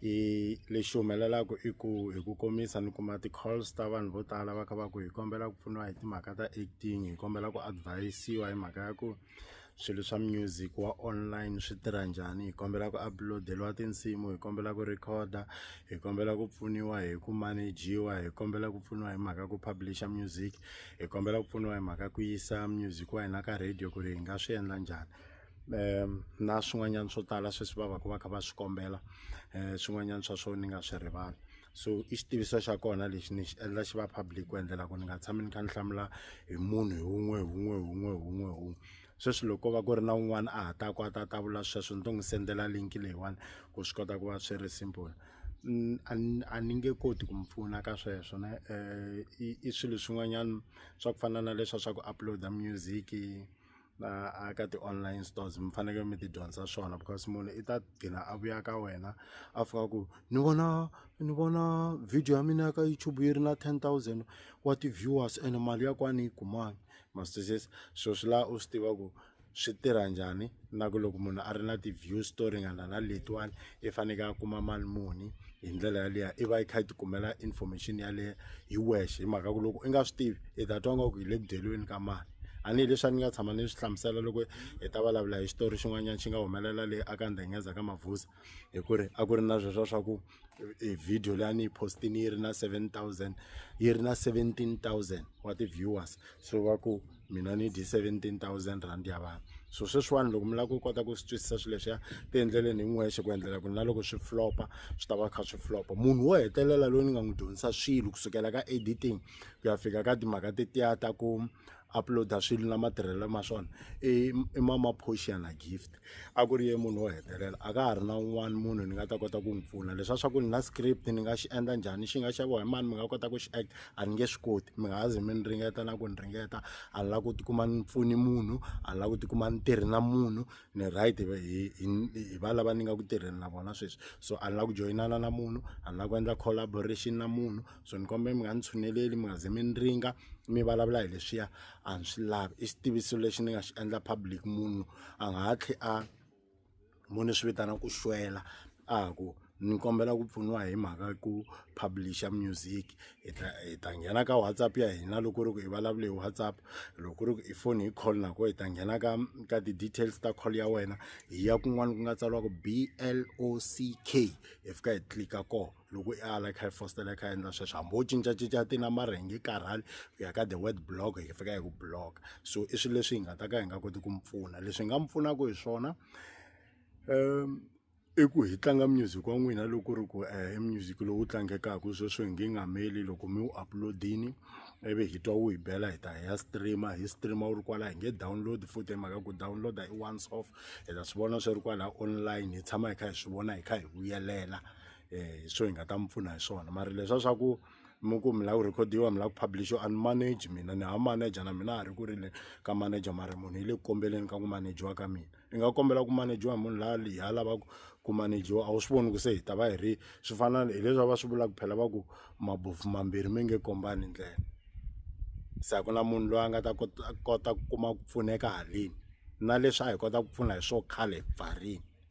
i lexi humelelaku i ku hi ku komisa ni kuma ti-calls ta vanhu vo tala va kha va ku hi kombela ku pfuniwa hi timhaka ta acting hi kombela ku advise-iwa hi mhaka ya ku swilo swa music wa online swi tirha njhani hi kombela ku upload-eliwa tinsimu hi kombela ku record-a hi kombela ku pfuniwa hi ku manage-iwa hi kombela ku pfuniwa hi mhaka ku publish-a music hi kombela ku pfuniwa hi mhaka ku yisa music wa hina ka radio ku ri hi nga swi endla njhani. um na swin'wanyana swo tala sweswi va va ka va kha va swi kombela um swin'wanyana swa swona ni nga swi rivali so i xitiviso xa kona lexi ni xi endla xi va public ku endlela ku ni nga tshami ni kha ni hlamula hi munhu hi wun'we hi wun'we hi wun'we hi wun'we hi wun'we sweswi loko ko va ku ri na un'wana a ha ta ku a ta ta vula sweswo ni to n'wi sendela link leyiwani ku swi kota ku va swi ri simple a ni nge koti ku mi pfuna ka sweswo ne um i swilo swin'wanyana swa ku fana na leswa swa ku upload-a music. na a ka ti-online stores mi fanekele mi ti dyondzisa swona because munhu i ta gcina a vuya ka wena a fika ku ni vona ni vona video ya mina ya ka youtube yi ri na ten thousand wa ti-viewers ene mali ya kwani yi kumani mastisisi swilo swi laha u swi tiva ku swi tirha njhani na ku loko munhu a ri na ti-views to ringana na letiwani. i faneke a kuma mali muni hi ndlela yaleyo i va i kha i tikumela information yaleyo hi wexe hi mhaka ku loko i nga swi tivi i ta twa nga ku hi le ku dyeliweni ka mali tanihileswi a ni nga tshama ni swi hlamusela loko hi ta vulavula hi xitori xin'wanyana xi nga humelela le aka ndhengenza ka mavhuza hi ku ri a ku ri na sweswo swa ku e video leyi a ni yi postini yi ri na seven thousand yi ri na seventeen thousand wa ti-viewers so va ku mina ni dye seventeen thousand rand ya vanhu so sweswiwani loko mi lava ku kota ku swi twisisa swilo leswiya ti endleleni hi n'wexe ku endlela ku na loko swi flopa swi ta va kha swi flopa munhu wo hetelela loyi ni nga n'wi dyondzisa swilo kusukela ka editing ku ya fika ka timhaka tetiya ta ku uploada swilo na matirhelo ma swona i mama portiana gift a ku ri ye munhu wo hetelela a ka ha ri na un'wana munhu ni nga ta kota ku n'wi pfuna leswa swa ku ni na script ni nga xi endla njhani xi nga xaviwa hi mani mi nga kota ku xi act a ni nge swi koti mi nga ha zi mi ni ringeta na ku ni ringeta a ni la ku tikuma ni pfuni munhu a ni la ku tikuma ni tirhi na munhu ni right hi hi va lava ni nga ku tirheni na vona sweswi so a ni la ku joyinana na munhu a ni la ku endla collaboration na munhu so ni kombela mi nga ni tshuneleli mi nga ze mi ni ringa mi vulavula hi leswiya a ni swi lavi i xitiviso lexi ni nga xi endla public munhu a nga ha tlhe a mo ni swi vitana ku xwela a ku ni kombela ku pfuniwa hi mhaka ku publisher music hi ta hi ta nghena ka whatsapp ya hina loko ri ku i vulavule hi whatsapp loko ri ku i foni hi call nako hi ta nghena ka ka ti-details ta call ya wena hi ya kun'wana ku nga tsariwa ku B_L_O_C_K hi fika hi tlilika kona. loko i ala i kha i fositela i kha i endla sweswo hambi wo cincacinca ti na mara hi nge karhali ku ya ka the word block hi fika hi ku block so i swilo leswi hi nga ta ka hi nga koti ku mi pfuna leswi hi nga mi pfunaka hi swona um i ku hi tlanga music wa n'wina loko ri ku eh, i music lowu tlangekaka sweswo hi nge nga meli loko mi wu upload-ini ivi hi twa wu hi bela hi ta hi ya streama hi streama wu ri kwala hi nge download futhi hi mhaka ku download-a i once off hi ta swi vona swi ri kwala online hi tshama hi kha hi swi vona hi kha hi vuyelela hi swo hi nga ta mi pfuna hi swona mara leswa swa ku mi ku mi lava ku rhikhodiwa mi lava ku publish a ni manage mina ni ha manager na mina a ha ri ku ri le ka manager mara munhu yi le ku kombeleni ka ku manejiwa ka mina ni nga kombela ku manejiwa hi munhu la leyi a lavaka ku manejiwa a wu swi voni ku se hi ta va hi ri swi fana hileswi a va swi vulaka phela va ku mabofu mambirhi mi nge kombani ndlela se a ku na munhu loyi a nga ta kota kota ku kuma ku pfuneka haleni na leswi a hi kota ku pfuna hi swo khale hi pfarini.